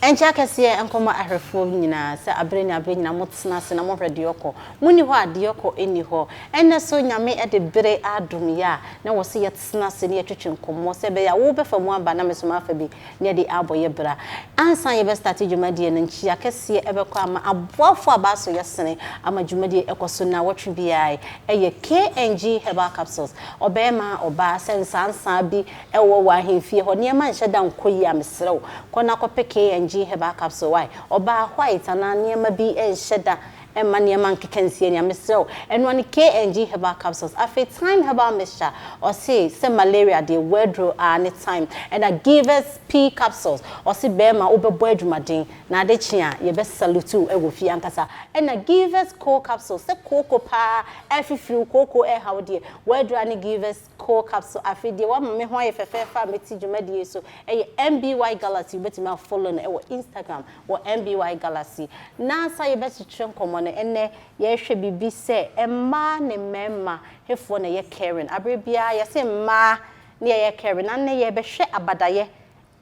Ɛnkyɛ akɛseɛ nkɔma ahwɛfoɔ nyinaa sɛ abere ne abere nyinaa motena ase na mohwɛ deɛ ɔkɔ. Monni hɔ a deɛ ɔkɔ nni hɔ. Ɛnnɛ so Nyame de bere adom yɛ a na wɔse yɛtena ase na yɛtwetwe nkɔmmɔ sɛ ɛbɛyɛ a wobɛfa mu aba na me so mafa bi. Yɛde abɔ yɛ bra. Ansa yɛbɛ starte dwumadie no, nkyia kɛseɛ ɛbɛkɔ ama aboafoɔ a bɛaso yɛ sene ama dwumadie ɛkɔso nnawɔtwe biara yi. Ɛyɛ KNG Herbal Capsules. Ɔbɛɛma, ɔbaa, sɛ nsaansaa bi ɛwɔ wɔ ahemfie hɔ, nneɛma nhyɛ da nkɔ yie a, mesrɛ wo, kɔ na kɔpɛ KNG Herbal Capsule. Wai? Ɔbaa, white anaa nneɛma bi nhyɛ da Mma nneɛma nkeka nsie nea mesrɛ wo ɛnoa ne KNG herbal capsules afei thyme herbal mixture ɔse sɛ malaria deɛ w'aduro aa ne thyme ɛna givers pea capsules ɔse bɛɛma wobɛbɔ adwumaden na ade kye a yɛbɛ salute wo wɔ fie ankasa ɛna givers coal capsules sɛ kooko paa ɛfifiri wo kooko ɛɛha wo deɛ w'aduro aa ne givers Coal capsule Afei deɛ wama me ho ayɛ fɛfɛɛfɛ a mɛti dwumadie so yɛ MBY Galaxy Wobɛtumi a follow no wɔ Instagram wɔ MBY Galaxy Nansa yɛbɛkyekyere nkɔmmɔ no ɛnnɛ yɛrehwɛ biribi sɛ mmaa ne mmarima hefoɔ na ɛyɛ caring Aberɛ biara yɛse mmaa ne yɛyɛ caring Nannɛ yɛrebɛhwɛ abadayɛ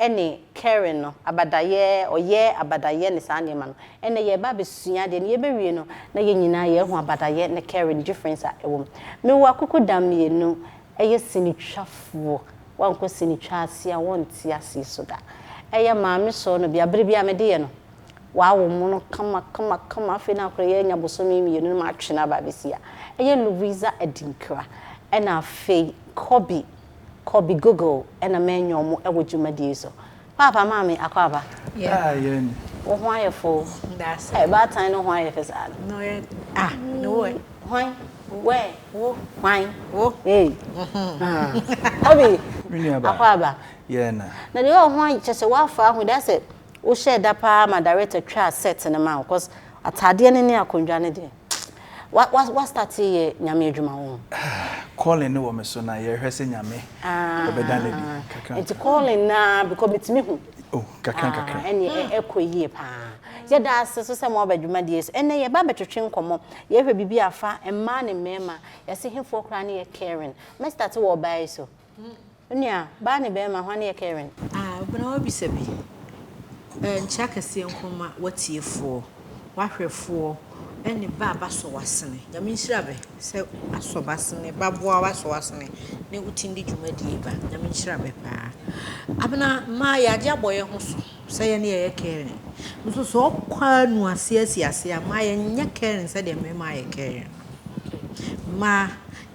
ne caring no, abadayɛ, ɔyɛ, abadayɛ ne saa nneɛma no. Ɛnnɛ yɛreba abɛsua adeɛ no, yɛbɛwie no na yɛn nyinaa yɛahu abadayɛ ne caring difference a ɛwɔ mu. Mewɔ akokɔdam mmienu, ɛyɛ sinitwafoɔ, woankɔ sinitwa ase a wonte aseɛ so da. Ɛyɛ maame sɔɔ no bia, berɛ biara mede yɛ no, wɔawo mo no kama kama kama, afei na akora yi anya bosome mmienu na matwe no aba abɛsi ha. Ɛyɛ Louisa Adinkra ɛna afei Kobbie. kɔ bi google ɛna mɛnyɛ ɔmo ɛwɔ dwumadie so paapa maame akwaaba wo ho ayɛ fo ɛ baatan no ho ayɛ fɛ saa no ah no wɛ hwan wɛ wo hwan wo ei obi akwaaba na deɛ ɔho ayɛ kyɛ sɛ woafa ahu da sɛ wohyɛ da paa ma director twaa set no ma wo cause ataadeɛ no ne akondwa no deɛ Wa wa starte yɛ nyame adwuma wo ho. Calling ne wɔ me so na yɛhwɛ sɛ nyame ɔbɛda no adi kakra. Nti calling na because metumi hu. Oh kakra kakra. Ɛne ɛkɔ yie paa. Yɛda ase so sɛ mo aba dwumadie so. Ɛnɛ yɛba abɛtwetwe nkɔmmɔ. Yɛhwɛ biribi afa mmaa ne mmarima. Yɛse hefoɔ koraa ne yɛ caring. Mɛ starte wɔ ɔbaa yi so. Wo nua, baa ne barima, hwan yɛ Karen? A Obena w'abisa bi. Ɛ nkyɛ akɛseɛ nko mma w'atiefoɔ, w'ahwɛfoɔ ne bɛ a b'asɔ w'asene. Nyame nhyira bɛ sɛ asɔ b'asene, b'aboa w'asɔ w'asene ne wo tindi dwumadie ba. Nyame nhyira bɛ paa. Abena, mmaa yɛ adeɛ abɔ yɛ ho so sɛ yɛ ne yɛ yɛ Karen. Nso sɛ ɔkɔ a nu aseɛ asi aseɛ a, mmaa yɛ nyɛ Karen sɛdeɛ mmarima ayɛ Karen no. Mmaa.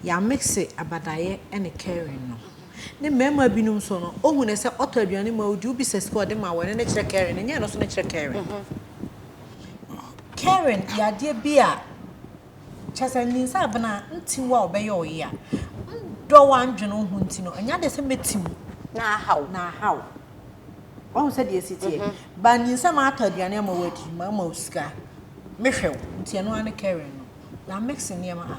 Yɛamixe Abadaeɛ ne Karen no. Ne mmarima binom nso no, ɔhu no sɛ ɔtɔ aduane ma ɔdi, wobi sɛ sika ɔde ma wɔ, ɛno ne kyerɛ Karen, ɛnyɛ ɛno nso ne kyerɛ Karen. Karen yɛ adeɛ bi a, kyerɛ sɛ nninsɛ abena nti wo a ɔbɛyɛ wo yea. Ndɔ wo a ndwene wo ho nti no, ɛnyɛ adeɛ sɛ mɛti wo. Na aha wo. Na aha wo. Wahu sɛdeɛ ɛsi teɛ? But nninsɛ matɔ aduane ama wo adi, mama wo sika, mehwɛ wo, nti ɛno ara ne Karen no. Yɛamixe nneɛma a.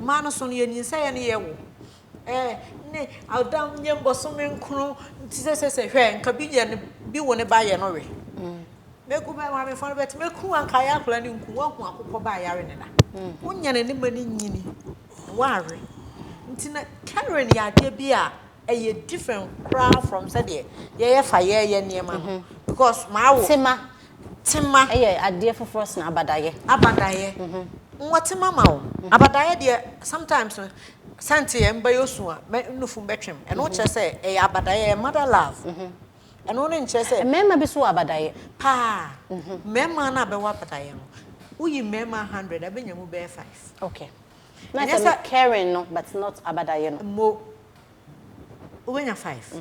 Mmaa no so no, yɛnyinsɛeɛ no yɛ wo eh, ne Ada nyɛ mbɔsome nkron nti sesese hwɛ nka bi yɛ ne bi wo ne ba yɛ no we Mɛku bɛ maamefoɔ no bɛte mɛku anka ayɛ akwadaa no nku woahu akokɔ ba a yare ne da wonya ne ne ma no nyini woawe nti na Karen yɛ adeɛ bi a ɛyɛ different koraa from sɛdeɛ yɛyɛ fa yɛyɛ nneɛma no because maawo. Tema. Ɛyɛ adeɛ foforɔ sene abadaeɛ. Abadaeɛ. Nwɔ tema ma o. Abadaeɛ deɛ sometimes no sɛ nte yɛ mbɛyɛ osu a mɛ nufu mbɛtwem. Ɛno kyerɛ sɛ ɛyɛ abadaeɛ ɛyɛ mother love. Ɛno ne nkyerɛ sɛ. Mmarima bi so wɔ abadaeɛ. Paa. Mmarima no a bɛwɔ abadaeɛ no woyi mmarima hundred a bɛnya mu bɛyɛ five. Okay. Na sɛ no caring no but not abadaeɛ no. Mmo. Wobɛnya five.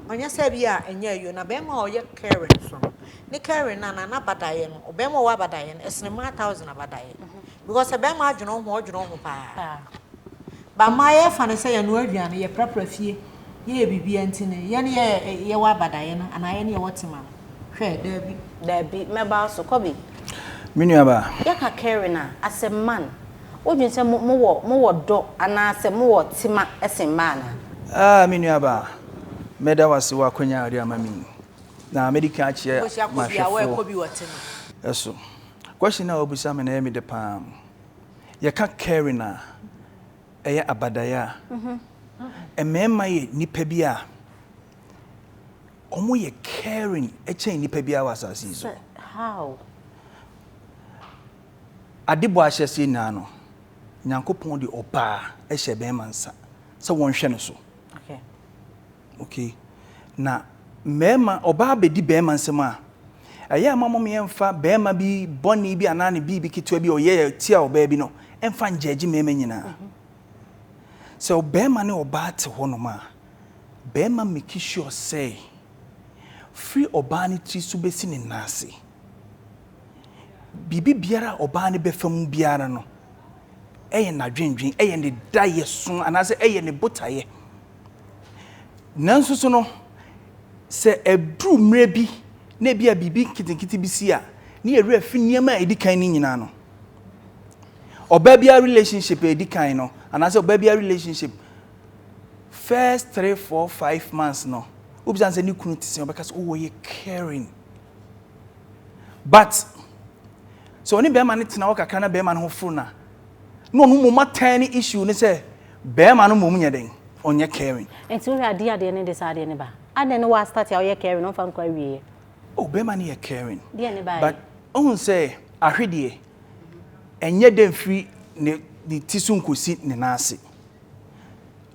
Ɔnnyɛ sɛ bi a nnyɛ ayio na bɛrima a ɔyɛ Karen so no ne Karen no anaa n'abadaeɛ no, ɔbɛrima a ɔwɔ abadaeɛ no ɛsene mmaa thousand abadaeɛ because sɛ bɛrima adwene wo ho a ɔdwene wo ho paa but mmaa yɛfa no sɛ yɛnoa aduane yɛprapra fie yɛyɛ biribiara nti no yɛn yɛ yɛwɔ abadaeɛ no anaa yɛn yɛwɔ tema no hwɛ daabi Daabi, mɛba wo so, kɔ bi. Me nuabaa. Yɛka Karen a, as a man. Wodwen sɛ mo, mowɔ, mowɔ dɔ anaasɛ mowɔ tema sen mmaa anaa? Ah, me nuabaa, mɛda wo ase wɔ akwanya a wode ama me yi. Na mɛdi kan akyerɛ m'ahwɛfoɔ so. Question no a wobisa me no ɛyɛ me dɛ paa. Yɛka caring a, ɛyɛ abadaeɛ a, mmarima yɛ nnipa bi a wɔyɛ caring kyɛn nnipa biara wɔ asase yi so. Sɛ, how? Ade bɔ ahyɛseɛ nyinaa no, Nyankopɔn de ɔbaa hyɛ bɛrima nsa sɛ wɔnhwɛ no so. Okay. Okay. Na mmarima, ɔbaa bɛdi bɛrima nsam a, ɛyɛ ama mom yɛmfa bɛrima bi bɔne bi anaa ne biribi ketewa bi a ɔyɛ tia ɔbaa bi no, ɛmfa ngyɛgye mmarima nyinaa. Mhm. Sɛ ɔbɛrima ne ɔbaa te hɔ nom a, bɛrima meki sure sɛ, firi ɔbaa ne tiri so bɛsi ne nan ase, Biribi biara a ɔbaa no bɛfa mu biara no, ɛyɛ n'adwendwen, ɛyɛ ne daeɛso anaasɛ ɛyɛ ne botaeɛ. Nanso so no, sɛ ɛduru mmerɛ bi na ebi a biribi nketenkete bi si a, ne yɛ werɛ fi nneɛma a ɛdi kan no nyinaa no. Ɔbaa biara relationship a ɛdi kan no, anaasɛ ɔbaa biara relationship first three, four, five months no, wobisa no sɛ ne kunu te sɛ, ɔbɛka sɛ, oh, ɔyɛ caring. but sɛ ɔne bɛrima no tena hɔ kakra na bɛrima no ho foro no a na ɔno mmom atɛn ne issue ne sɛ bɛrima no mmom nyɛ dɛn ɔnyɛ caring. Nti wohwɛ adeɛ adeɛ ne de saa adeɛ ne ba adɛn ne w'astart a ɔyɛ caring ɔmfa nkɔ awieɛ. Oh bɛrima no yɛ caring. Deɛ ne baeɛ. But ohun sɛ ahwedeɛ ɛnyɛ dɛ mfiri ne ne ti so nkɔsi ne nan ase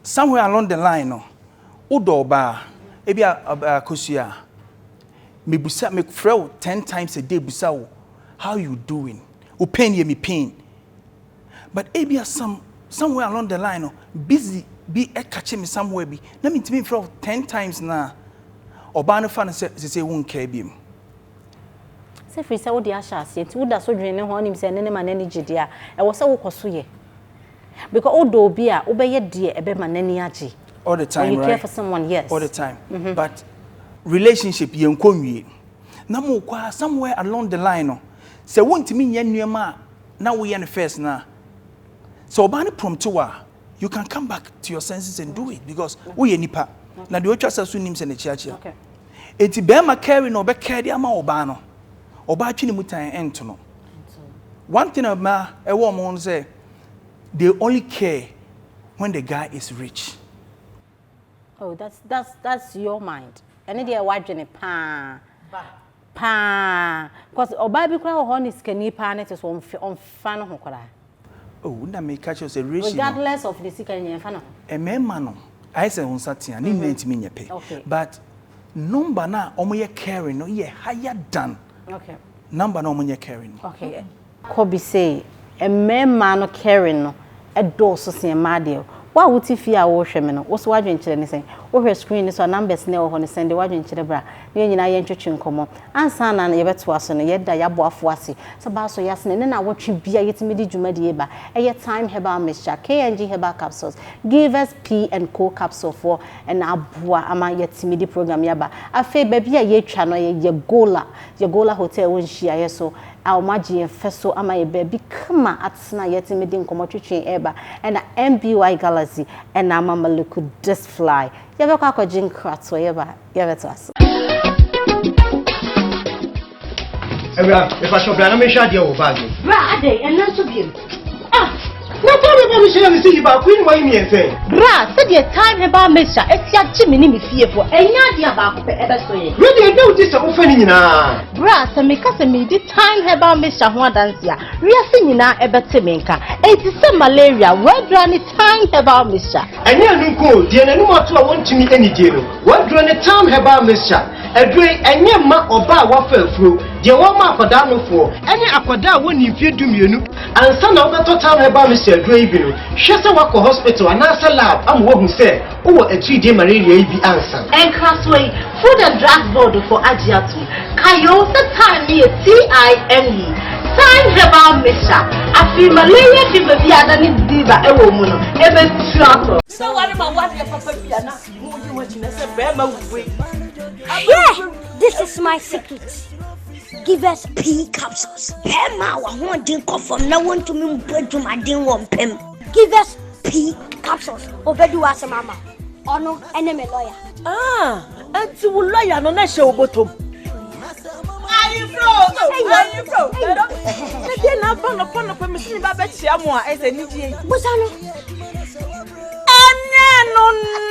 somewhere along the line no wodɔ ɔbaa ebi a akosua a. Mebisa me frɛ wo ten times a day bisa wo how you doing wo pain yɛ me pain but ebia some somewhere along the line no busy bi catch me somewhere bi na mentumi mfrɛ wo ten times no a ɔbaa no fa no sɛ sesei wo nkaa biom. Sɛ firi sɛ wode ahyɛ aseɛ nti woda so dwene ne ho a wonim sɛ ɛno ne ma n'ani gye deɛ a ɛwɔ sɛ wokɔ so yɛ. Because wo dɔ obi a, wo bɛ yɛ deɛ ɛbɛ ma n'ani agye. All the time right? When you care for someone, yes. All the time. Mm -hmm. But relationship yɛn kɔ nwie. Na mo kɔ a somewhere along the line no, sɛ wo ntumi nyɛ nneɛma a na wo yɛ no first na, sɛ ɔbaa no prompt wa, you can come back to your senses and do it because wo yɛ nipa. Na deɛ otwa sɛ so nim sɛ n'akyiakyia. Okay. Eti bɛrima carry na ɔbɛ carry ama ɔbaa no. Ɔbaa twi ne mu tan ɛnto no. One thing about ɛwɔ ɔmo ho no sɛ. they only care when the guy is rich. Oh, that's that's that's your mind. Ɛne deɛ wadwene paa. Paa. Cause ɔbaa bi koraa wɔ hɔ ne sikani paa ne te so ɔmfe ɔmfa ne ho koraa. Oh, na me catch us a ratio. Regardless of the sikani nyɛ mfa ne ho. Ɛmɛɛma no, ayɛ sɛ nsa tea, ne nyinaa ntumi nyɛ pɛ. Okay. But number na ɔmo yɛ caring no yɛ higher than. Okay. Number na ɔmo nyɛ caring no. Okay. Kɔ bi se mmarimaa no caring no dɔɔso sen mmaa deɛ. Wo a wote fie a worehwɛ me no, wo nso w'adwenkyerɛ ne sɛn? Wohwɛ screen no so a numbers no a ɛwɔ hɔ no sɛn deɛ w'adwenkyerɛ bra na yɛn nyinaa yɛntwetwe nkɔmmɔ. Ansa na yɛbɛtoa so no, yɛda yɛn aboafo ase sɛ baa so yɛasene ne nnawɔtwe biara yɛtumi de dwuma die ba. Ɛyɛ Thyme Herbal Mixture, KNG Herbal Capsules, Givers P and Co Capsule foɔ na aboa ama yɛatumi de program yi aba. Afei baabi a yɛatwa no yɛ Yɛgola, Yɛgola Hotel wɔ Nhyiaeɛ so a wɔagye yɛn fɛ so ama yɛn baabi kama atena a yɛtumi de nkɔmmɔ twetwe reba na MBY Galaxy na ama Maliku Disfly. Yɛbɛkɔ akɔgye nkratoɔ yɛba a yɛbɛtoa so. Awura, mepakyɛ bra na menhwɛ adeɛ wɔ bag mu. Bra adɛn, ɛnna nso biom. Ah! Na taa me ba me hyɛ na me si yi baako yi ne wayi mmiɛnsa yi. Bra, sɛdeɛ taa me ba me hyɛ asi agye me ne me fiefoɔ ɛnyɛ adeɛ a baako pɛ ɛbɛso yɛn. Wei deɛ ɛda wo ti sɛ wofa ne nyinaa. Bra, sɛ meka sɛ medi time herbal mixture ho adanse a, wiase nyinaa ɛbɛte me nka. Enti sɛ malaria, wɛbra ne Time herbal mixture. Ɛnyɛ ɛno nko o, deɛ n'anim ato a wɔntumi anidie no, wɔaduro ne Time herbal mixture. Aduro yi, ɛnyɛ mma ɔbaa a wafa afuro, deɛ wɔma akwadaa nofoɔ, ɛne akwadaa a wɔnni mfeɛ dumienu. Ansa na wobɛtɔ Time herbal mixture aduro yi bi no, hwɛ sɛ woakɔ hospital anaasɛ lab ama wɔahu sɛ Wowɔ atiridie malaria yi bi ansa. Nkrasoɔ yi, Food and Drugs Board foɔ agye atom, kayoo, sɛ thyme no yɛ TYME, Thyme Herbal Mixture, afei malaria fever bi a na ne diva wɔ mu no, ɛbɛtu atɔ. Sɛ ware ma wadeɛ papa bi a na mo yi ho gyina sɛ bɛrima wue. Yeah, this is my secret. Give us P capsules. Bɛrima a wahoɔden kɔ fam na wɔntumi mpo adwumaden wɔ mpam. give us p capsules obedi wa asem ama ɔno ɛne me lɔya. ah ɛnti wo lɔya no na ɛhyɛ wo bɔtɔm. ɛdeɛ na aba nɔpɔnɔpɔ mesene ba bɛkyia mo a ɛsɛ anigyeɛ yi bosa no ɛne no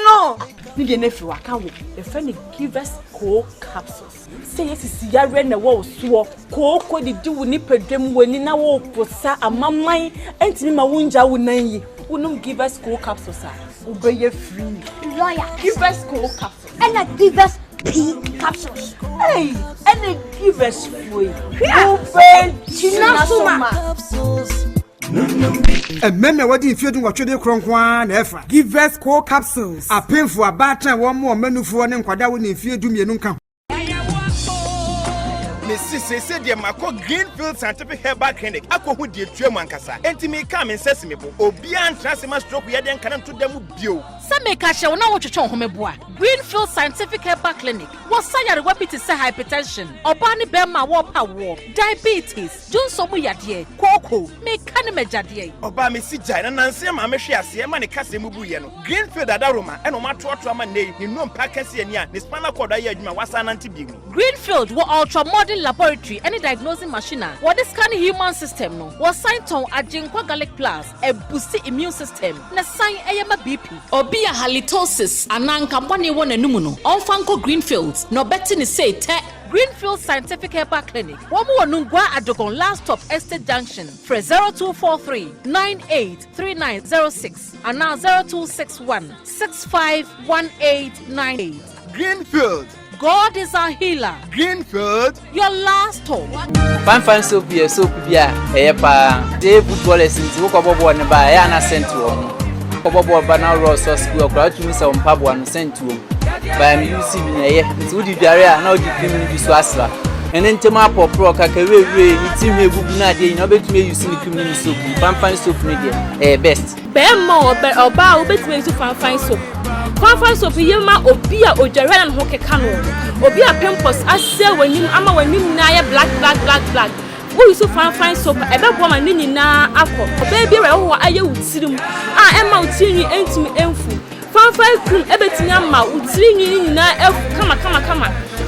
no ne deɛ no afiri waka wo yɛfrɛ no givers co capsules Sɛ yesisi yareɛ na ɛwɔ wo soɔ, kooko didi wo nipadwam, w'ani na wopo sa, amaman ntumi ma wongyaa wo nan yi, wonom Givers Cold Capsules a, wobɛyɛ free. Lawyer. Givers Cold Capsules. Ɛna Givers Pee Capsules. Ei, ɛna Givers foɔ yi. Hwɛ! Wobɛgyina so ma. Mmɛ na wɔde mfeɛ dunwɔtwe de korɔ nko ara na ɛfa. Givers Coal Capsules, Apemfo, Abaatan, wɔn mmoa, Mmanufoɔ, ne nkwadaa a wɔnni mfeɛ du mmienu nka ho. Mesi seesei deɛ makɔ Greenfield Scientific Herbal Clinic akɔhu deɛ ɛtua mu ankasa. Enti mekaa me nsa si me bo. Obiara ntena ase mma stroke yɛdeɛ nka no nto da mu bio. Sɛ meka kyerɛ wo na wotwetwe wo ho mebo a, Greenfield Scientific Herbal Clinic wɔ sa nyarewa bi te sɛ hypertension, ɔbaa ne barima a wɔrepɛ awoɔ, diabetes, Dwonsɔ mu yadeɛ, kooko, meka ne m'agya deɛ. Ɔbaa me si gyae na nanse ɛma me hwe aseɛ ɛma ne kasa mu buiɛ no. Greenfield adaworoma ɛna ɔmo atoato ama nnɛ yi, ne nnompa kɛse ani a ne spinal cord ayɛ adwuma a wasan anante bio yi. Greenfield wɔ ultra modern laboratory ɛne diagnosing machine a wɔde scan human system no. Wɔsan tɔn Agyenkwa Garlic Plus, ɛbusti immune system na ɛsan ɛyɛ ma BP. Obi a halitosis anaa nkabɔne wɔ n'anomu no, ɔmfa nkɔ Greenfield na ɔbɛte ne seetɛ. Greenfield Scientific Herbal Clinic, wɔn wɔ Nungua Adogon last stop Estate Junction, frɛ zero two four three nine eight three nine zero six anaa zero two six one six five one eight nine eight. Greenfield. God is our healer. Greenfield. Your last hope. fanfan soap yɛ soap bi a ɛyɛ paa dee boot wallets nti wokɔbɔ bɔɔl no ba ɛyɛ ana sɛnt wɔ ho Ɔkɔbɔbɔ ɔba na ɔwɔ sɔ sukuu ɔkora atumi sɛ ɔmpaboa no sɛ ntuom baa ne yusi bi na ɛyɛ nti wodi dware a na ɔde fim no bi so asra ɛne ntɛm apɔporɔ kaka wirewirie ne ti ho egugu no adeɛ nyinaa wobɛtumi ayusi ne fim no ne soap mu fanfan soap no deɛ ɛyɛ best. Bɛrima o ɔbaa wobɛtumi ayusi fanfan soap fanfan soap yɛ ma obi a odware na ne ho keka no obi a pimples asɛ w'anim ama w'anim nyinaa yɛ black black black black Woyi so fanfan soap a, ɛbɛboa ma ne nyinaa akɔ. Ɔbaa biara a ɛwɔ hɔ ayɛ wo tirim a ɛmma wo tirinwi ntumi mfu. Fanfan krim bɛtumi ama wo tirinwi no nyinaa afu kamakamakama.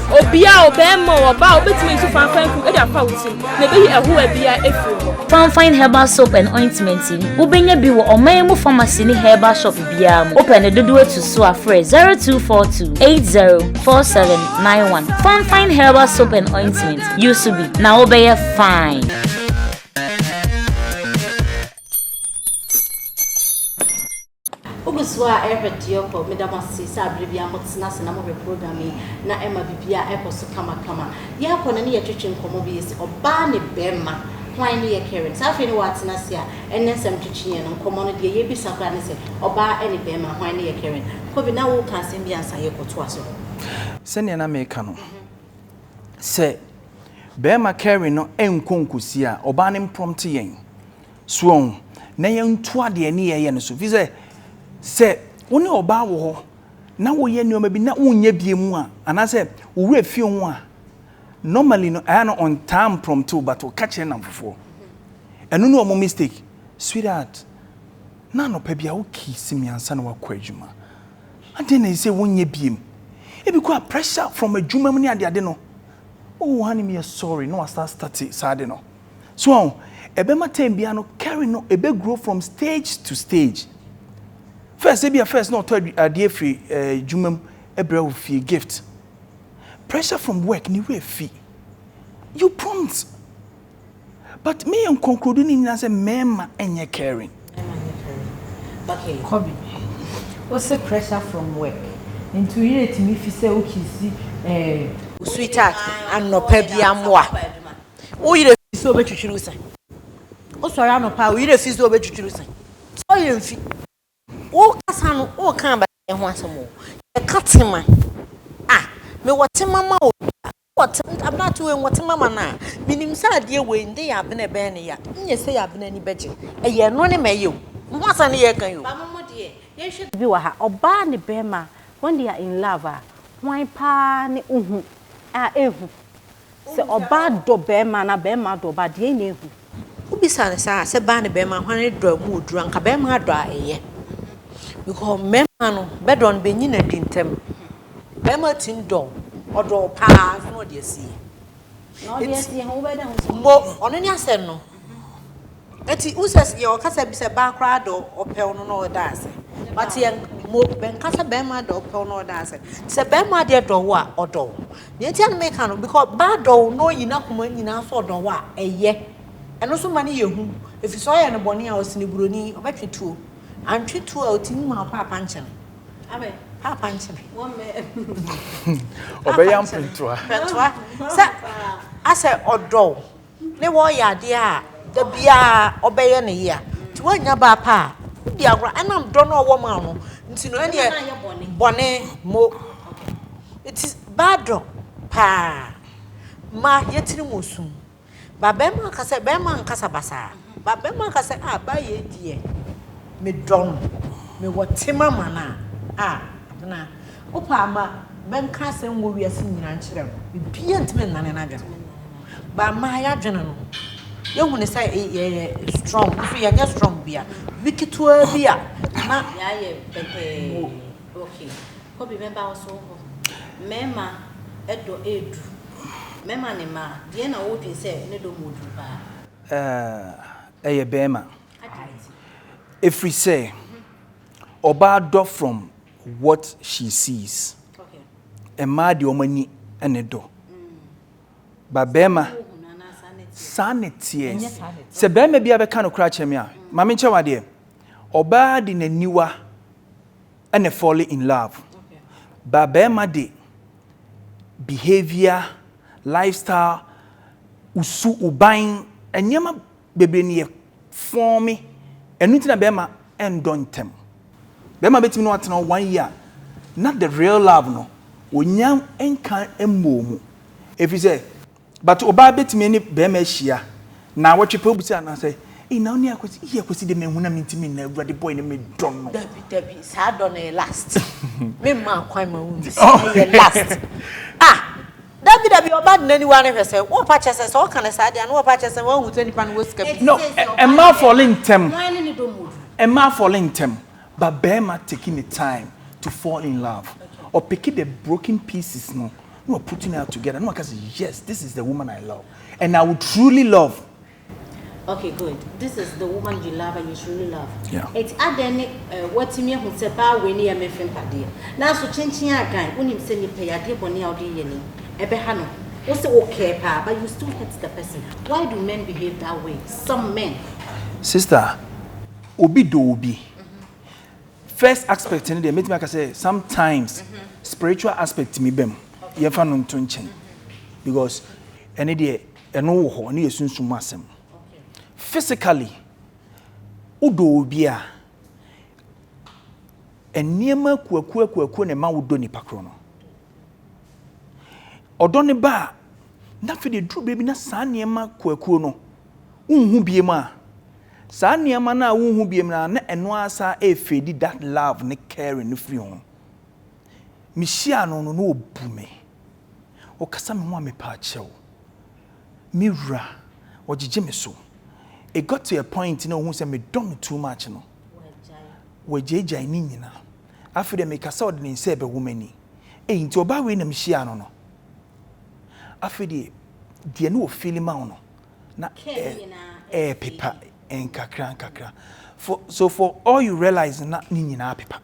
Obia o, ɔbarima o, ɔbaa o, wobɛtumi ayi so fanfan krim de afa wo tirim na ɛbɛyi ɛhoa biara afiri hɔ. Fanfan herbal soap and ointment yi, wobɛnya bi wɔ ɔman mu pharmacy ne herbal shop biara mu. Wopɛ ne dodoɔ tu so a, frɛ 0242 804791. Fanfan herbal soap and ointment. Use bi na wobɛyɛ fine. Wogusu a ɛrehwɛ Dioko, meda mo ase sɛ abere bi a motena ase na mohwɛ program yi na ɛma bibia ɛkɔ so kama kama. Yɛakɔ na ne yɛtwetwe nkɔmmɔ bi yɛsi ɔbaa ne bɛɛma hwan ne yɛ caring. Saa afei ne woatena ase a ɛnɛ nsɛm twetwe yɛn no nkɔmmɔ no deɛ yɛbisa koraa ne sɛ ɔbaa ɛne bɛɛma hwan ne yɛ caring. Kobe na woka asɛm bi ansa yɛkɔ toa so. Sɛnea na meka no, sɛ bɛɛma carry no nkɔ nkosi a ɔbaa no mprɔmte yɛn so ɔn na yɛn to adeɛ ne yɛyɛ no so fi sɛ sɛ wo ne ɔbaa wɔ hɔ na woyɛ nneɛma bi na wonyɛ bie mu a anaasɛ wowura fie ho a normally no ɛyɛ no ɔntaa mprɔmte wo but ɔka kyerɛ namfofoɔ ɛno ne ɔmo mistake sweetheart na anɔpa bi a wo kii si mi ansa na wakɔ adwuma Adɛn na ɛsɛ sɛ wonyɛ bio? Ebi koraa pressure from adwuma mu ne adeade no, oh honey meyɛ sorry na wasa astarte saa ade no. So ɔho? Ɛbɛma time biara no caring no ɛbɛ grow from stage to stage. First ebia first na ɔtɔ adeɛ firi adwuma mu brɛ wo fie gift. Pressure from work ne werɛ fi. You prompt But me yɛ nkonkurodi ne nyina sɛ mɛɛma ɛnyɛ caring. Mɛɛma ɛnyɛ caring okay kɔ bi wo se pressure from work nti wo yere tumi fi sɛ wo kisi eh. Sweetheart anɔpa bi amoa wo yere fi sɛ ɔbɛtwitwiri wo se wo sɔre anɔpa a wo yere fi sɛ ɔbɛtwitwiri wo se wo yere mfi wo kasa no wo ka abayɛ ho asɛm o yɛ ka tema ah me wɔ tema ma obi a What? Abena to enwɔ te mama no a menim sɛ adeɛ wei nde yɛ abena ɛbɛyɛ no ya nyɛ sɛ yɛ abena ani bɛgye ɛyɛ ɛno ne ma ɛyɛ o mo ho asɛm ne yɛreka yi o. Ba momo deɛ yɛnhwɛ bibi wɔ ha ɔbaa ne bɛɛma when they are in love a hwan paa ne ohu a ehu sɛ ɔbaa dɔ bɛɛma anaa bɛɛma adɔ ɔbaa deɛn na ehu. Wobisa no saa a sɛ baa ne bɛɛma hwan ne dɔ a mu wɔ duru anka bɛɛma adɔ a ɛyɛ because mɛɛma no bɛdɔ no bɛnyi no adi ntɛm. Bɛɛma tim dɔ wo, ɔdɔ wo paa nso na ɔde asie. Na ɔde asie ho wobɛda ho sɛ. Mbo ɔno ne asɛm no. Eti wo sɛ yɛ ɔkasa bi sɛ baa koraa dɔ ɔpɛ wo no na ɔda ase. But yɛ mbo bɛnka sɛ bɛɛma dɔ ɔpɛ wo na ɔda ase. Sɛ bɛɛma deɛ dɔ wo a ɔdɔ wo. Nea enti a na meka no because baa dɔ wo na ɔyi n'akoma nyinaa so ɔdɔ wo a ɛyɛ. Ɛno nso ma no yɛ hu. Efisɛ ɔyɛ no bɔne a ɔsene buroni ɔbɛtwe tuo. Antwe tuo a otumi hu no paapa nkyɛn. ɔbɛyɛ mpentoa mpentoa sɛ asɛ ɔdɔ wo ne wɔyɛ adeɛ a da biara ɔbɛyɛ ne yea nti woanya baa pa a wodi agorɔ ɛnam dɔ no a ɔwɔ ma no nti no ɛneɛ bɔne mo nti baa dɔ paa ma yɛtiri mu osu Ba bɛrima ka sɛ, Bɛrima nkasa basaa. Ba bɛrima ka sɛ, Ah, ba yei deɛ, medɔ no, mewɔ tema ma no a, ah, Abena, wopɛ a ma menka asɛm wɔ wiase nyinaa nkyerɛ wo, biribiara ntumi nnane n'adwene ho. Ba mmaa, yɛn adwene no, yɛhu no sɛ yɛyɛ strong, nso yɛnyɛ strong biara. Biribi ketewaa bi a, na. Yɛayɛ pɛtɛɛ. Wɔ. Okay. Kobe mɛba wo so hɔ. Mɛɛma dɔ ɛɛdu. Mɛɛma ne mma. Deɛ na wo dwen sɛ ne dɔ mu ɔduru paa. Ɛɛh ɛyɛ bɛɛma. Adɛn nti? Ɛfiri sɛ ɔbaa dɔ from what she sees. Okay. Mmaa deɛ wɔn ani ne dɔ. But bɛɛma. Saa na wohunu anaa saa na ɛteɛ? Saa na ɛteɛ. Ɛnyɛ saa na ɛteɛ. Sɛ bɛɛma biara bɛka nokorɛ akyerɛ me a, ma menkyɛ wo adeɛ, ɔbaa de n'aniwa. Ɛna fall in love ba bɛɛma de behaviour, life style, wo su, wo ban, nneɛma bebree na yɛ forme ɛno nti na bɛɛma ɛndɔ ntɛm. Bɛɛma bɛtumi ne wo atena hɔ one year na the real love no wɔnya nka mmɔɔ mu ɛfiri sɛ. But obaa betumi ɛne bɛɛma ahyia naawɔtwe pɛ obisa no sɛ ei na wone akwasi ei akwasi deɛ menhu na mentimi nna awurade boy no medɔ no. Dabi dabi saa dɔ no yɛ last me mmaa kwan ma wonyi sɛ ɛyɛ last ah dabi dabi ɔba de naniwa no hwɛ sɛ wɔpa kyɛ sɛ sɛ ɔka no saa deɛ ano wɔpa kyɛ sɛ wahu sɛ nipa no wɔ sika pii. No ɛmmaa fɔle ntɛm ɛmmaa fɔle ntɛm but bɛɛma teki ne time to fall in love ɔpeki the broken pieces no. na wa putting her together na waka sɛ yes this is the woman I love and I would truly love. Okay good this is the woman you love and you truly love. Yeah. Eti adɛn ne eh, watumi ehu sɛ baa wei ne yɛ mefin padeɛ nanso kyenkyen agan wonim sɛ nipa yɛ adeɛ bɔne a ɔde yɛ ni ɛbɛha no wo sɛ wo kɛɛ paa but you still hurt the person why do men behave that way some men. Sister obi dɔ obi. Mm -hmm. First aspect no deɛ mɛtumi aka sɛ sometimes spiritual aspect tumi ba mu yɛmfa no nto nkyɛn because ɛne deɛ ɛno wɔ hɔ ɛne yɛ sunsum mu asɛm physically wodɔ obi a nneɛma akuakuakuakuo na ɛma wodɔ nipa korɔ no ɔdɔ ne ba a na afei deɛ duru baabi na saa nneɛma kuakuo no wonhu biom a, saa nneɛma no a wonhu biom no a na ɛno ara saa ɛrefeedi that love ne caring no firi ho. Mehyia no no na ɔbu me, ɔkasa me ho a mepaakyɛw, me wura, ɔgyegye me so. It got to a point na ɔhu sɛ medɔ no too much no, wagyaagyae ne nyina. Afei deɛ mekasa a ɔde ne nsa ɛbɛwɔ m'ani. Ei, nti ɔbaa wei na mehyia no no. Afei deɛ, deɛ na ɔfeeli ma wo no, na ɛɛpepa nkakra nkakra for so for all you realize na ne nyinaa pepa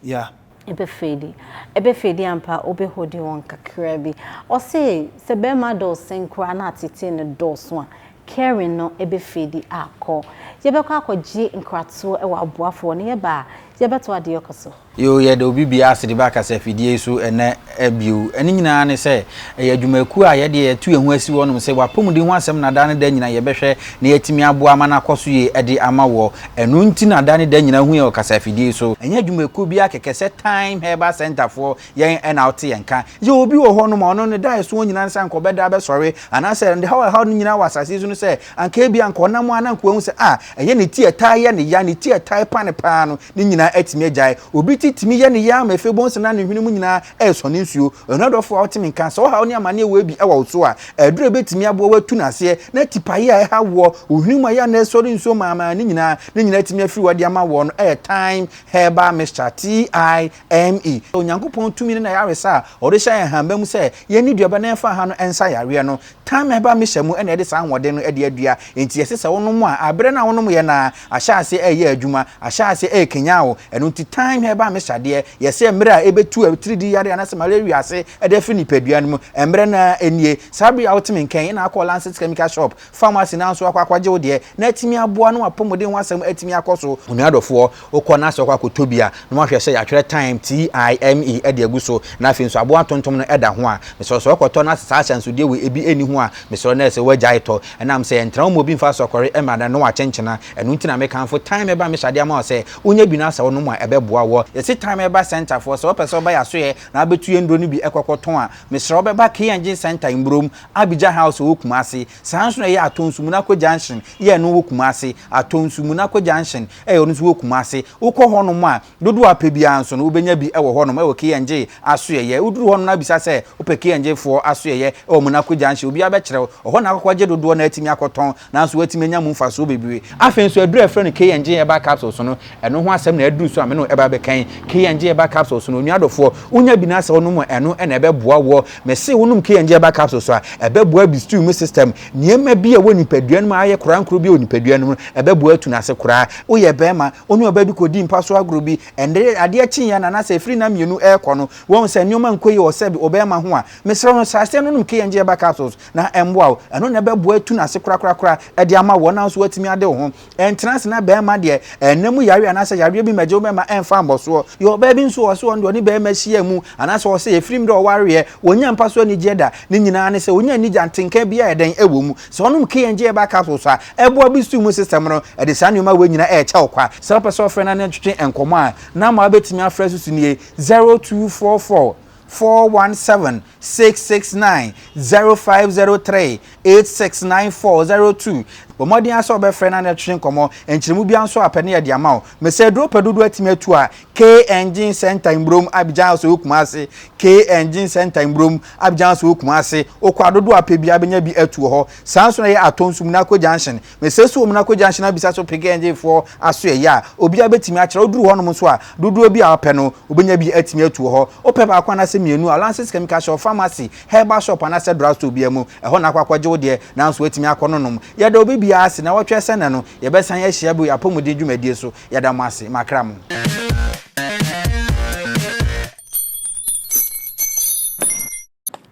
yeah. Ebe fedi ebe fedi ampa obe hodi wɔn kakra bi ɔse sɛ bɛɛma dɔ ɔsen koraa na atetee no dɔɔso a caring no ebe fedi akɔ yɛbɛkɔ akɔgye nkratoɔ ɛwɔ aboafoɔ no yɛba a yɛbɛto adeɛ kɔ so. Yoo, yɛda obi biara ase de ba kasafidie yi so ɛnnɛ bio. Ɛno nyinaa ne sɛ, ɛyɛ adwumakuo a yɛdeɛ yɛatu yɛn ho asi hɔnom sɛ w'apɔmuden ho asɛm na daa ne da nyina yɛbɛhwɛ na yɛatumi aboa ama no akɔ so yie de ama woɔ. Ɛno nti na da ne da nyina wohu yɛn wɔ kasafidie yi so. Ɛnyɛ adwumakuo biara kɛkɛ sɛ Thyme Herbal Centre foɔ, yɛn na wote yɛn nka. Yɛwɔ obi wɔ hɔnom a ɔno ne da a ɛsoɔ nyina ne sɛ anka ɔbɛda abɛsɔre anaasɛ ɔde haw a ɛhaw no nyina wɔ asase yi so no sɛ, Anka ebia anka ɔnam a na anka wahu sɛ, ah, ɛnyɛ ne ti a ɛtaa yɛ no ya, ne ti a ɛtaa repa no paa no, ne nyinaa atumi agyae. Obi ti tumi yɛ no ya ma afei bohu sɛ na ne hwene mu nyinaa resɔ ne nsuo. Onua dɔfo a wote me nka, sɛ ɔhaw ne amanneɛ wɔ bi wɔ wo so a, aduru a ebetumi aboa wo atu no aseɛ, na tipaeɛ a ɛhaw woɔ, wo hwene mu a ɛyɛ a na ɛresɔre nsuo maamaa no nyinaa, ne nyinaa atumi afiri hɔ de ama woɔ no yɛ Thyme Herbal Mixture, TI ME, sɛ Onyankopɔn tumi ne n'ayaresa a ɔde hyɛ yɛn hama mu sɛ yɛnni duaba na yɛmfa ha no nsa yareɛ no. Tan a ɛba mehyɛ mu na ɛde saa ahoɔden no de adua, enti ɛse sɛ wonom a, aberɛ no a wonomyɛ no ara, ahyɛ aseɛ ɛreyɛ adwuma, ahyɛ aseɛ ɛrekanyan wo. Ɛno nti tan a ɛba mehyɛ adeɛ yɛ sɛ mmerɛ a ɛbɛtu atiridii yareɛ anaasɛ malaria wiase de afiri nipadua no mu. Mmerɛ no ara nie, saa berɛ yi a wote me nka yi na akɔ Lancet Chemical Shop, Pharmacy no ara nso akɔ akɔgye wo deɛ na atumi aboa na w'apɔmuden ho asɛm atumi akɔ so. Onua dɔfoɔ, Wokɔ na sɛ wokɔ akɔtɔ bi a, na woahwɛ sɛ yɛatwerɛ time, T-I-M-E, de agu so, na afei nso aboa ntontom no da ho a, mesrɛ wo sɛ wokɔtɔ na sɛ saa ahyɛnsodeɛ wei ebi nni ho a, mesrɛ wo na ɛsɛ wagyae tɔ. Ɛnam sɛ ɛntra wo mu a obi mfa asɔkɔre mmra na na wakyenkyena. Ɛno nti na mekamfo time ba mehyɛ adeɛ ama wo sɛ wonya bi na sɛ wonom a ɛbɛboa wo. Yɛse time ba centre foɔ, sɛ wopɛ sɛ woba yɛn asoeɛ na wobɛtu yɛn nnuro no bi kɔkɔtɔn a, mesrɛ wo bɛba K Engine Centre Mburom, Abidjan House ɛwɔ Kumasi. Saa ara nso na ɛyɛ Atonsu Munako Junction, EN, wɔ Kumasi, Atonsu Munako Junction, Ɛyɛ no nso wɔ Kumasi. Wokɔ hɔnom a, dodoɔ a wopɛ biara nso no, wobɛnya bi wɔ hɔnom wɔ KNJ asoɛeɛ. Woduru hɔnom na wobisa sɛ wopɛ KNJ foɔ asoɛeɛ wɔ Monako Junction, obiara bɛkyerɛ wo. Ɛhɔ na wobɛkɔ agye dodoɔ na woatumi akɔtɔn, nanso woatumi anya mu mfasoɔ bebree. Afei nso, aduro a wɔfrɛ no KNJ Herbal Capsules no, ɛno ho asɛm na aduru so a me ne wo reba abɛka yi. KNJ Herbal Capsules no, onua dɔfoɔ, wonya bi na sɛ wonom a, ɛno na ɛbɛboa woɔ. Mese wonom KNJ Herbal Capsules a, ɛbɛboa bi stew mu system, Nneɛma bi a ɛwɔ nipadua no mu a ayɛ korankoro bi wɔ nipadua no mu no, ɛbɛboa atu no ase koraa. Woyɛ barima, wo ne ɔbaa bi kɔdii mpa so agorɔ bi, ɛnde adeɛ kyeeɛ no anaasɛ ɛfiri nna mmienu rekɔ no, woahu sɛ nneɛma nkɔ yie wɔ sɛbe ɔbarima ho a, mesrɛ wo no, saa aseɛ no nom K-Enjeaba capsules na ɛmmoa wo. Ɛno na ɛbɛboa atu no ase korakorakora de ama wo, wo ara nso woatumi ade wo ho Ɛntena ase na barima deɛ ɛnna mu yareɛ anaasɛ yareɛ bi mmɛgye wo bɛma ɛmfa mmɔsoɔ. Yɛ ɔbaa bi nso ɔse ɔno deɛ ɔne barima hyia mu anaasɛ ɔse ɛfiri mmerɛ ɔwareɛ wɔnnya mpa so anigyeɛ da ne nyinaa ne sɛ ɔnya nni gya ntenka biara ɛdɛn ɛwɔ mu. Sɛ ɔnom KNG herbal capsules a ɛboa boost immune system no ɛde saa nneɛma wei nyinaa ɛrekyɛ wo kwa. Sɛ wopɛ sɛ wofrɛ na ne ntwetwe nkɔmmɔ a, number a wobɛtumi afrɛ so so nie, zero two four four four one seven six six nine zero five zero three eight six nine four zero two bɔ mmɔden asɛ ɔbɛfrɛ na ne twetwe nkɔmmɔ nkyerɛmu bia nso a pɛ ne yɛde ama wo mesɛ aduro pɛ dodoɔ atumi atu a K Engine Center Mburom Abidjan House wɔ Kumase K Engine Center Mburom Abidjan House wɔ Kumase wokɔ a dodoɔ a pɛ bia bɛnya bi atu wɔ hɔ saa nso na ɛyɛ Atɔn Sumina Akko Junction Mesesoo mu na kogyaa nhyɛn abisa so pegee NJfoɔ asoɛeɛ a obiara bɛtumi akyerɛ. Woduru hɔnom nso a, dodoɔ bi a wopɛ no, wobɛnya bi atumi atu wɔ hɔ. Wopɛ baako anaasɛ mmienu a, Lances Chemical Shop, Pharmacy, Herbal Shop anaasɛ Drug Store biara mu, ɛhɔ na wokɔ akɔgye wo deɛ, nanso woatumi akɔ no nom. Yɛda obi biara ase. Nnawɔtwe asia nnɛ no, yɛbɛsan ahyia bio yɛn apɔmuden dwumadie so. Yɛda mo ase. Makra mo.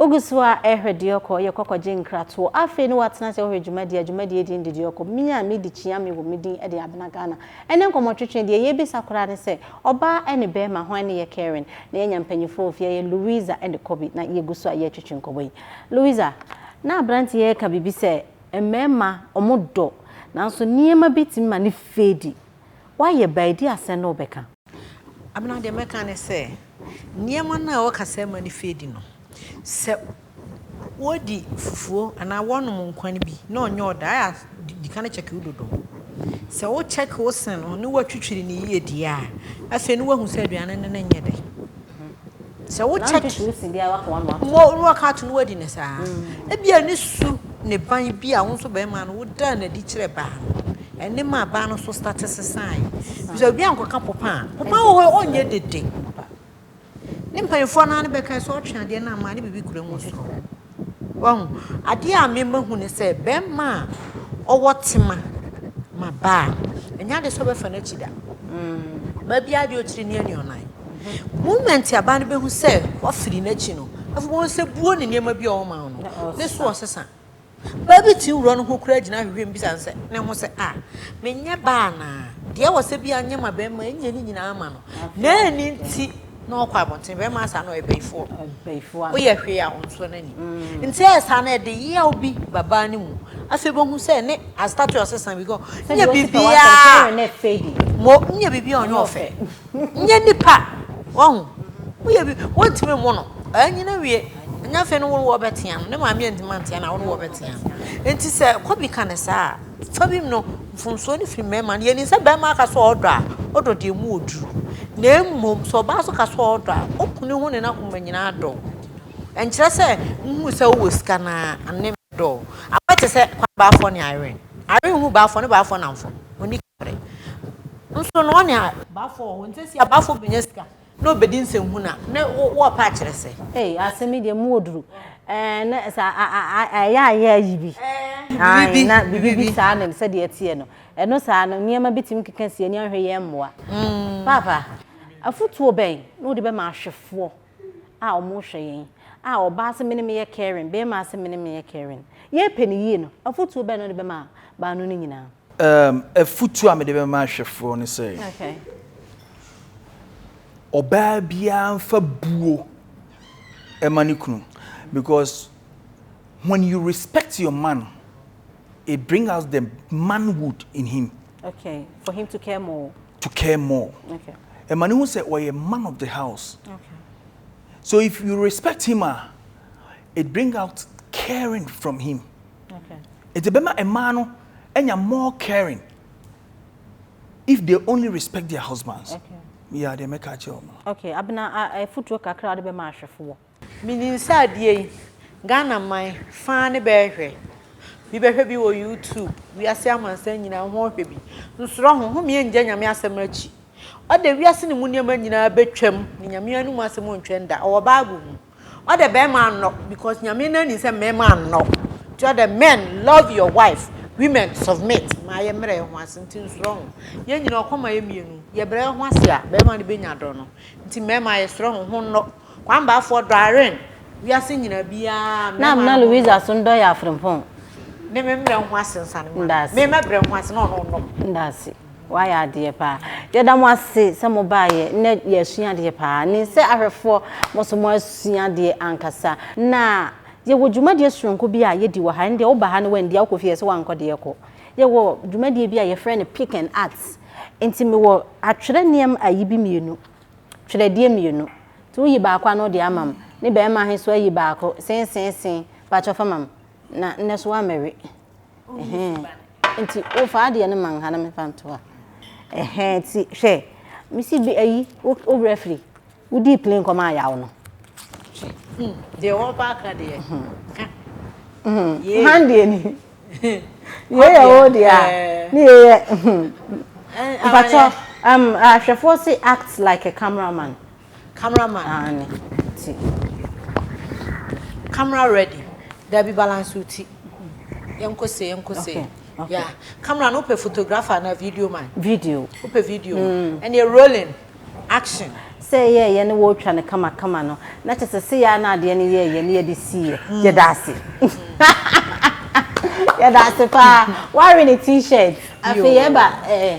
Wogu so ara rehwɛ deɛ ɔkɔ, yɛ kɔ kɔgye nkratoɔ. Afei ne woatena ase wohwɛ dwumadie a dwumadie din de deɛ ɔkɔ, me a medi Kyeame wɔ me din de Abena Ghana. Ɛnnɛ nkɔmmɔtwetwe, deɛ yɛbisa koraa ne sɛ, ɔbaa ɛne barima hwan ne yɛ Karen? Na yɛanya mpanyinfoɔ wɔ fie ha, yɛ Louisa ɛne Kobe na yɛgu so a yɛretwetwe nkɔmmɔ yi. Louisa, na aberanteɛ yi reka biribi sɛ mmarima wɔdɔ nanso nneɛma bi tumi ma no fade. Woayɛ baa yi, deɛ asɛn na wobɛka? Abena, Deɛ mɛka ne sɛ, nneɛma no a wɔka sɛ mma no firi adi no, sɛ wodi fufuo anaa wɔnom nkwan no bi na ɔnyɛ ɔda a, ɛyɛ a di kan kyɛke wo dodo. Sɛ wokyɛke wo se no na woatwitwiri no yie deɛ a, afei na woahu sɛ aduane no ne nyɛ dɛ. Sɛ wo check mo no ɔka ato no wadi ne saa. Ebi a ne su ne ban bi a wo nso bɛrima no wo daa n'adi kyerɛ baa no. Ɛne ma baa no so start sesae. Bisa obi ankɔka popa a popa wɔ hɔ ɔnyɛ dede. Ne mpanyinfoɔ naa ne bɛka sɛ ɔtwe adeɛ no ama ne bibi kura mu so. Wahu? Adeɛ a me mahu ne sɛ, bɛrima a ɔwɔ tema ma baa no, ɛnyɛ adeɛ sɛ ɔbɛfa n'akyi da. Ɔbaa biara deɛ ɔkyiri ne anuanan. Moment a baa no bɛhu sɛ wafiri n'akyi no, afei bɛhu sɛ buo ne nneɛma bi a ɔma wo no, ne so ɔsesa. Baa bi tumi wura no ho koraa gyina ahwehwɛ mu bisa no sɛ, ne ho sɛ, ah, menyɛ baa anaa? Deɛ ɛwɔ sɛ bia nyɛ ma bɛrima, ɛnyɛ ne nyinaa ma no. Na ɛni nti. Na ɔkɔ abɔnten bɛrima saa na ɔyɛ bɛyifoɔ bɛyifoɔ woyɛ hwee a ɔnsɔ n'ani mm. nti ɛyɛ saa na ɛde yaw bi babaa no mu afei bɛhu sɛ ne astate ɔsesa bi kɔ nyɛ biribiaa mo nyɛ biribiaa ɔnyɛ ɔfɛ nyɛ nipa wahu woyɛ bi wontumi mo no ɛnyina wie ɛnyɛ afei no wo wɔ bɛtea no ne maame antimi antea na wo ne wɔ bɛtea no nti sɛ kɔbi ka ne saa Fa bi mu no, mfomsoɔ no firi mmarima no. Yɛnim sɛ barima ka sɛ ɔdɔ a, ɔdɔ deɛ mu ɔduru. Na mmom sɛ ɔbaa nso ka sɛ ɔdɔ a, ɔku ne ho ne n'akoma nyinaa dɔ wo. Ɛnkyerɛ sɛ wohunu sɛ wowɔ sika no ara ne dɔ wo. Aboa te sɛ Kwame Baafoɔ ne Irene. Irene hunu Baafoɔ ne Baafoɔ nnamfo. Ɔnni ka berɛ. Nso no, ɔne Baafoɔ wɔ hɔ. Nti seesei a Baafoɔ bɛnya sika, Na ɔbɛdi nsɛnhunu a, na wɔrepɛ akyerɛ sɛ. Ei, asɛm yi deɛ, mu wɔ duru. Ɛɛ, na sɛ ayɛ a yɛ ayi bi. Biribi bi. Na biribi bi saa ne sɛdeɛ ɛteɛ no. Ɛno saa no, nneɛma bi tumi keka si ani ahwɛ yɛn mmoa. Paapa, afotuo bɛn na wode bɛma ahwɛfoɔ a wɔrehwɛ yɛn? A, ɔbaa se me ne meyɛ caring, barima se me ne meyɛ caring. Yɛrepɛ no yie no, afotuo bɛn na wode bɛma baanu no nyinaa? Um, afutu a mede bɛma ahwɛfoɔ ne sɛ, okay. ɔbaa biara nfa buo ɛma ne kunu because when you respect your man, it brings out the manhood in him. Okay, for him to care more. To care more. Okay. Ɛma ne ho sɛ ɔyɛ man of the house. Okay. So if you respect him, ah, it brings out caring from him. Enti ɛbɛma mmaa no anya more caring if they only respect their husbands. Okay. Yeah, they make catch you. Okay, abena a futuro kakra de be ma ahwefoɔ. Menim sɛ adeɛ yi Ghana man faa ne bɛɛhwɛ bi bɛhwɛ bi wɔ YouTube wiase amansan nyinaa ho hwɛ bi nsoro ho ho mea ngya nyame asɛm akyi ɔde wiase ne mu nneɛma nyinaa bɛtwam ne nyame anum asɛm ɔntwɛn da ɔwɔ bible mu. Ɔdɛ bɛɛma annɔ because Nyame no nim sɛ mbɛɛma annɔ ntsi ɔdɛ men love your wife women submit ma ayɛ mbrɛ hɛnho ase ntsi nsorɔ ho yɛn nyina ɔkɔ ma yɛ mienu yɛbrɛ yɛho ase a bɛɛma no benya dɔ no ntsi mbɛɛma yɛserɛ ho ho nnɔ kwambaafoɔ dɔ Irene wiase nyina biaa Na amena Louisa so ndɔ yɛ afrempɔn. Me me mbrɛ nho ase nsa no ma no me mɛbrɛ nho ase na ɔno ɔnnɔ. Ndaase. Wayɛ adeɛ paa. Yɛda mo ase sɛ mo baeɛ. Nnɛ yɛasua adeɛ paa. Nim sɛ ahwɛfoɔ mo nso mo asua adeɛ ankasa. Na yɛwɔ dwumadie sononko bi a yɛdi wɔ ha. Ɛndeɛ woba ha na woanndi a wokɔ fie yɛse woankɔ deɛ kɔ. Yɛwɔ dwumadie bi a yɛfrɛ no pick and art. Nti mewɔ atwerɛ nneɛma ayi bi mmienu. Twerɛdeɛ mmienu. Nti woyi baako a na wode ama me. Ne barima he nso ayi baako. Seeseesee. Pakyɛ fa ma me. Na nnɛ nso woammɛwe. nti wofa adeɛ no ma nha na mefa nto ha ɛhɛn nti hwɛ mesi bi ayi wo werɛ firi wodii pili nkɔm ayaw no deɛ wɔba aka deɛ ka han deɛ ni yɛyɛ wo deɛ a ne yɛyɛ mpatɔ ahwɛfoɔ se act like a cameraman Camera man. Aane ti. Camera ready. Dabi balance wo ti. Yɛnkɔ sei yɛnkɔ sei. Okay. Okay. Yeah. Camera no wopɛ photographer na video man. Video. Wopɛ video. Mm. Ɛneɛ rolling. Action. Sɛ yɛ yɛ ne wɔtwa no kama kama no na kyɛ sɛ sɛ yɛ na adeɛ no yɛ yɛ ne yɛde si yɛ mm. yɛda ase. yɛda ase paa. Wari ne t-shirt. Afei yɛba ɛɛ. Eh,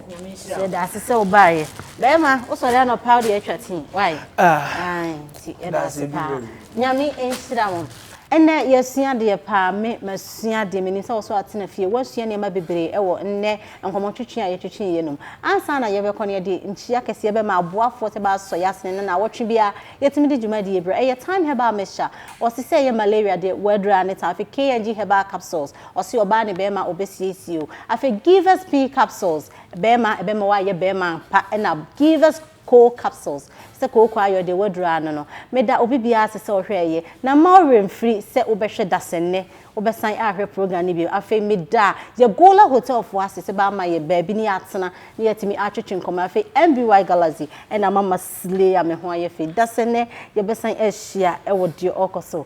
Yɛda ase sɛ wobaeɛ. Bɛrima, wosɔre anɔpa wode atwa tii. Why? Ah. Nti yɛda ase paa. Nyame nhyira mo. Ɛnɛ yɛasua adeɛ paa. Me masua adeɛ. Menim sɛ wo nso atena fie. Woasua nneɛma bebree wɔ nnɛ nkɔmmɔtwetwe a yɛtwetwee yɛ no mu. Ansa na yɛbɛkɔ no, yɛde nkyia kɛseɛ bɛma aboafoɔ sɛ bɛasɔ yɛn asene na nnawɔtwe biara yɛtumi de dwumadie brɛ. Ɛyɛ Time Herbal Mixture. Wɔse sɛ ɛyɛ malaria deɛ, wɔadura ne time. Afei KNG Herbal Capsules. Ɔse ɔbaa ne bɛɛma ɔbɛsiesie o. Afei give us pee capsules bɛɛma ɛbɛma w'ayɛ bɛɛma ampa ɛna give us koo capsules sɛ kooko ayɛ ɔdeɛ w'aduru ano no meda obi biaa ase sɛ ɔhwɛ ɛyɛ na mma wo werɛ mfiri sɛ wo bɛhwɛ dasɛnnɛ wo bɛsan ahwɛ program no bio afei meda Yagola hotel foɔ ase sɛ bɛ ama yɛ baabi ne yɛ atena ne yɛ atumi atwetwe nkɔmmɔ afei MBY Galaxy ɛna ama ma slay a me ho ayɛ fɛ dasɛnnɛ yɛ bɛsan ahyia ɛwɔ deɛ ɔɔkɔ so